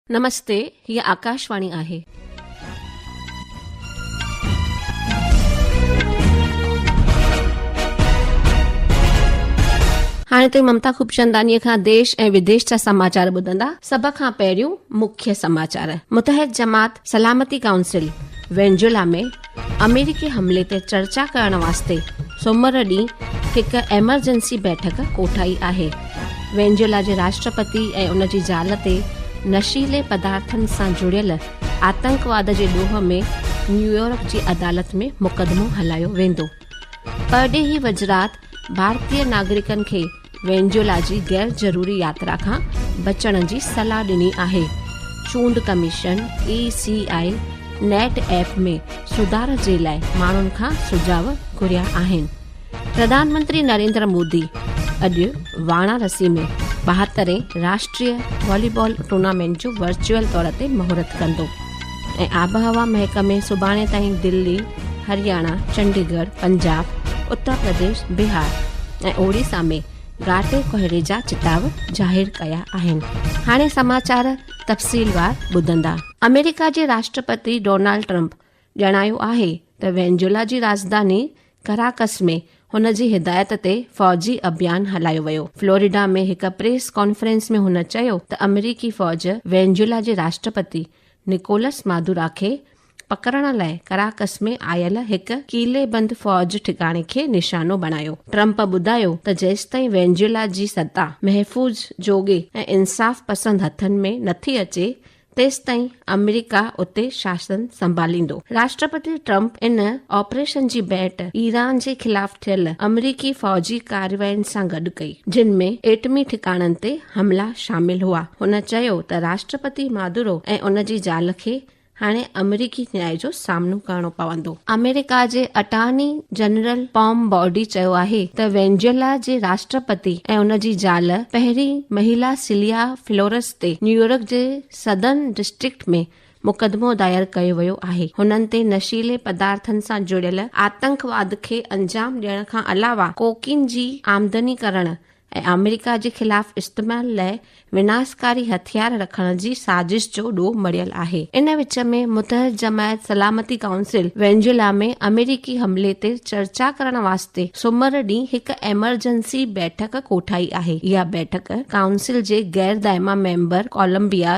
نمستي هي آڪاشواڻي آهي. هاڻي توهين ممتا خوبچنداني کان ديش ۽ وديش جا سماچار ٻڌندا سڀ کان پهريون مکيه سماچار متحد جماعت سلامتي ڪائونسل وينزويلا ۾ آمريڪي حملي تي چرچا ڪرڻ واسطي سومر ڏينهن هڪ ايمرجنسي بيٺڪ ڪوٺائي آهي وينجولا جي راشٽرپتي ۽ ان جي زال تي نشيلي پدارٿن سان جڙيل آتنڪواد جي ڏوهه ۾ نيويارڪ جي عدالت ۾ مقدمو هلايو ويندو پرڏيهي وزرات ڀارتي ناگرڪن کي وينزويلا جي غير ضروري ياترا کان بچڻ جي صلاح ڏني آهي چونڊ commission E C I net app ۾ سڌار جي لاء ماڻهن کان سجاء گهريا آهن پرڌان منتري نريندر مودي اڄ وارانسي ۾ ٻاهترين راشٽري والي بال ٽورنامينٽ جو ورچوئل طور تي مهورت ڪندو ۽ آبهوا محڪمي سڀاڻي تائين دلي، هرياڻا، چنڊيگڙھ، پنجاب، اتر پرديش، بهار ۽ اوڙيسا ۾ گهاٽي ڪوهيڙي جا چتاء ظاهر ڪيا آهن. هاڻي سماچار تفصيلوار ٻڌندا. آمريڪا جي راشٽرپتي ڊونالڊ ٽرمپ ڄاڻايو آهي ته وينزويلا جي راڄڌاني ڪراڪس ۾ هن جي هدايت تي فوجي اڀيان هلايو ويو. فلوريڊا ۾ هڪ پريس ڪانفرنس ۾ هن چيو ته آمريڪي فوج وينزويلا جي راشٽرپتي نڪولس مادورا کي پڪڙڻ لاء ڪراڪس ۾ آيل هڪ قلعي بند فوج ٺڪاڻي کي نشانو بڻايو. ٽرمپ ٻڌايو ته جيستائين وينزويلا جي ستا محفوظ، جوڳي ۽ انصاف پسند هٿن ۾ نٿي اچي تيستائين آمريڪا اتي شاسن سنڀاليندو. راشٽرپتي ٽرمپ ان آپريشن جي ڀيٽ ايران جي خلاف ٿيل آمريڪي فوجي ڪاررواين سان گڏ ڪئي، جن ۾ ايٽمي ٺڪاڻن تي حملا شامل هئا. هن چيو ته راشٽرپتي مادورو ۽ ان جي زال کي هاڻي آمريڪي نياء جو سامنو ڪرڻو پوندو. آمريڪا جي اٽارني جنرل پام بوڊي چيو آهي ته وينزويلا جي راشٽرپتي ۽ ان جي زال پهرين مهيلا سيليا فلورس تي نيويارڪ جي سدرن ڊسٽرڪٽ ۾ مقدمو دائر ڪيو ويو آهي، هنن تي نشيلي پدارٿن سان جڙيل آتنڪواد کي انجام ڏيڻ کان علاوه ڪوڪين جي آمدني ڪرڻ ۽ آمريڪا جي خلاف استعمال لئه وناسڪاري هٿيار رکڻ جي سازش جو ڏوهه مڙهيل آهي. ان وچ ۾ متحد جماعت سلامتي ڪائونسل وينزويلا ۾ آمريڪي حملي تي چرچا ڪرڻ واسطي سومر ڏينهن هڪ ايمرجنسي بيٺڪ ڪوٺائي آهي، اها بيٺڪ ڪائونسل جي غير دائما ميمبر ڪولمبيا،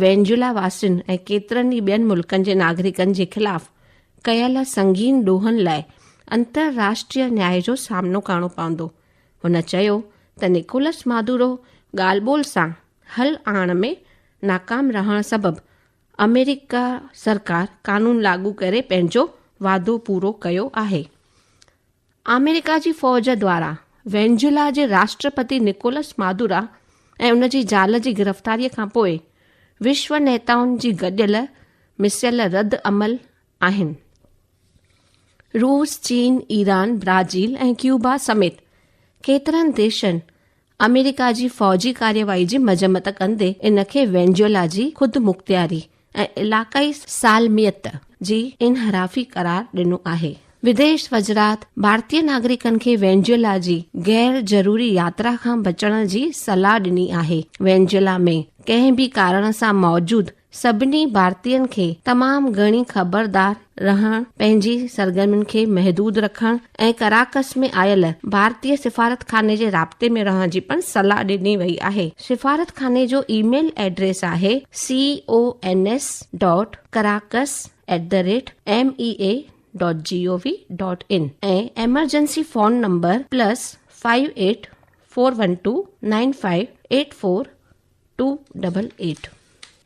وينزويلا واسين ۽ ڪيترن ئي ٻين ملڪن جي ناگرڪن جي خلاف ڪيل سنگين ڏوهن لاء انترراشٽريه نياء جو سامنو ڪرڻو پوندو. هن چيو ته نڪولس مادورو ڳالهه ٻولهه سان حل آڻڻ ۾ ناڪام رهڻ سبب آمريڪا سرڪار قانون لاڳو ڪري پنهنجو وعدو پورو ڪيو آهي. آمريڪا جي فوج دواران وينزويلا جي راشٽرپتي نڪولس مادورا ۽ ان جي زال جي گرفتاريء کان پوء وشو نيتائن جي گڏيل مسيل رد عمل آهن. روس، چين، ايران، برازيل ۽ ڪيوبا سميت ڪيترن ديشن آمريڪا جي فوجي ڪارروائي جي مذمت ڪندي ان کي وينزويلا جي خودمختياري ۽ علاقائي سالميت جي انحرافي قرار ڏنو آهي. وديش وزرات ڀارتي ناگرڪن کي وينزويلا جي غير ضروري ياترا کان بچڻ جي صلاح ڏني آهي. وينزويلا ۾ ڪنهن به ڪارڻ سان موجود سڀني ڀارتين کي تمام گهڻي خبردار رهڻ، پنهنجي سرگرمين کي محدود رکڻ ۽ ڪراڪس ۾ آيل ڀارتي سفارتخاني جي رابطي ۾ رهڻ جي پڻ صلاح ڏني وئي آهي. سفارتخاني جو اي ميل ايڊريس آهي cons dot Caracas at the rate M E A dot G O V dot in ۽ emergency phone number plus five eight four one two nine five eight four two double eight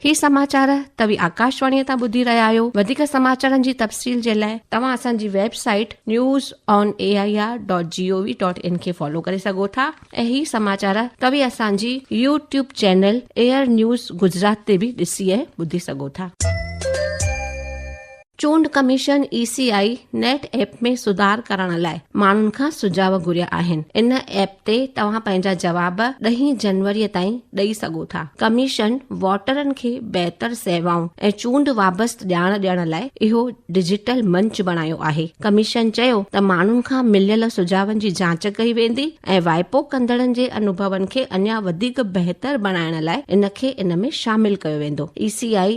هي سماچار توهي آڪاشواڻي تان ٻڌي رهيا آهيو وڌيڪ سماچارن جي تفصيل جي لاء توهان اسان جي website news on A I R dot G O V dot in کي فالو ڪري سگهو ٿا ۽ هي سماچار توهي اسان جي YouTube channel AIR news Gujarat تي به ڏسي ۽ ٻڌي سگهو ٿا. چونڊ commission E C I net app ۾ سڌار ڪرڻ لاء ماڻهن کان سجهاء گهريا آهن، ان ايپ تي توهان پنهنجا جواب ڏهين جنوري تائين ڏئي سگهو ٿا، ڪميشن ووٽرن کي بهتر سيوائون ۽ چونڊ وابست ڄاڻ ڏيڻ لاء اهو ڊجيٽل منچ بڻايو آهي، ڪميشن چيو ته ماڻهن کان مليل سجهاون جي جاچ ڪئي ويندي ۽ وائپو ڪندڙن جي انوڀون کي اڃا وڌيڪ بهتر بڻائڻ لاء ان کي ان ۾ شامل ڪيو ويندو، اي سي آء.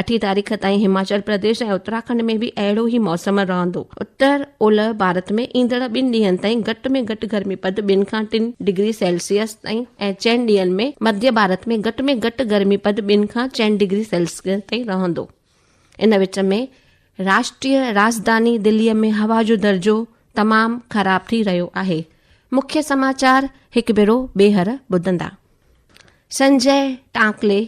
اٺين تاريخ تائين هماچل پرديش ۽ اتراکنڊ ۾ به اهڙو ئي موسم رهندو. اتر اولهه ڀارت ۾ ايندڙ ٻن ڏينهن تائين گهٽ ۾ گهٽ گرمي پد ٻن کان ٽن ڊگري سيلسيس تائين ۽ چئن ڏينهن ۾ مڌيه ڀارت ۾ گهٽ ۾ گهٽ گرمي پد ٻن کان چئن ڊگري سيلسيس تائين رهندو. ان وچ ۾ راشٽريه راڄڌاني دلي ۾ هوا جو درجو تمام خراب ٿي رهيو آهي. مکيه سماچار هڪ ڀيرو ٻيهر ٻڌندا. سنجي ٽانڪلي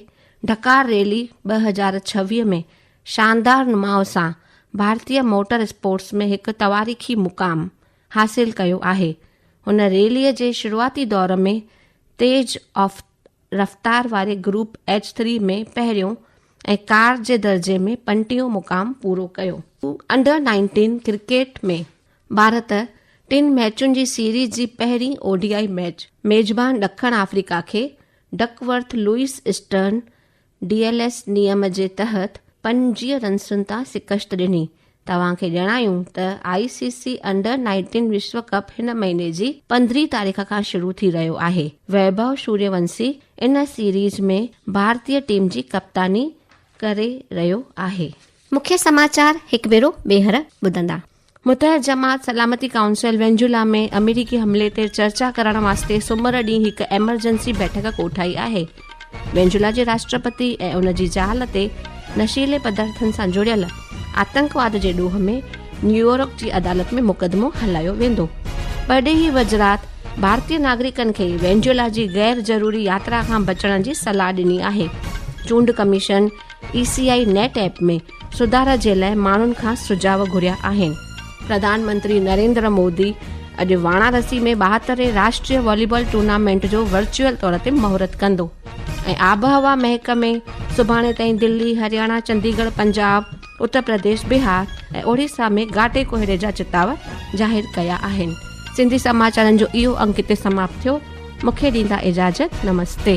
ڍڪار ريلي ٻه هزار ڇويهه ۾ شاندار نماء سان ڀارتي موٽر اسپورٽس ۾ هڪ تواريخي مقام حاصل ڪيو آهي هن ريلي جي شروعاتي دور ۾ تيز آف رفتار واري گروپ ايچ ٿري ۾ پهريون ۽ ڪار جي درجي ۾ پنٽيون مقام پورو ڪيو انڊر نائنٽين ڪرڪيٽ ۾ ڀارت ٽن ميچن جي سيريز جي پهرين او ڊي آء ميچ ميزبان ڏکڻ آفريڪا کي Duckworth Lewis Stern D L S نيم جي تحت پنجويهه رنسن تان شڪست ڏني توهان کي ڄاڻايون ته آء سي سي انڊر نائنٽين وشو ڪپ هن مهيني جي پندرهين تاريخ کان شروع ٿي رهيو آهي ويڀو سوريه ونسي ان سيريز ۾ ڀارتي ٽيم جي ڪپتاني ڪري رهيو آهي مکيه سماچار هڪ ڀيرو ٻيهر ٻڌندا. متحد جماعت سلامتي ڪائونسل وينزويلا ۾ آمريڪي حملي تي چرچا ڪرڻ واسطي سومر ڏينهن هڪ ايمرجنسي بيٺڪ ڪوٺائي آهي وينزويلا جي راشٽرپتي ۽ ان جي زال تي نشيلي پدارٿن سان جڙيل آتنڪواد جي ڏوهه ۾ نيويارڪ جي عدالت ۾ مقدمو هلايو ويندو پرڏيهي وزرات ڀارتي ناگرڪن کي وينزويلا جي غير ضروري ياترا کان بچڻ جي صلاح ڏني آهي چونڊ commission E C I net app ۾ سڌارا جي لاء ماڻهن کان سجهاء گهريا آهن. پرڌان منتري نريندر مودي اڄ وارانسي ۾ ٻاهترين راشٽري واليبال ٽورنامينٽ جو ورچوئل طور تي مهورت ڪندو ۽ آبهوا محڪمي سڀاڻي تائين دلي، هرياڻا، چنديگڙھ، پنجاب، اتر پرديش، بهار ۽ اوڙيسا ۾ گهاٽي ڪوهيڙي جا چتاء ظاهر ڪيا آهن. سنڌي سماچارن جو اهو انڪ هتي سماپت ٿيو. مونکي ڏيندا اجازت. نمستي.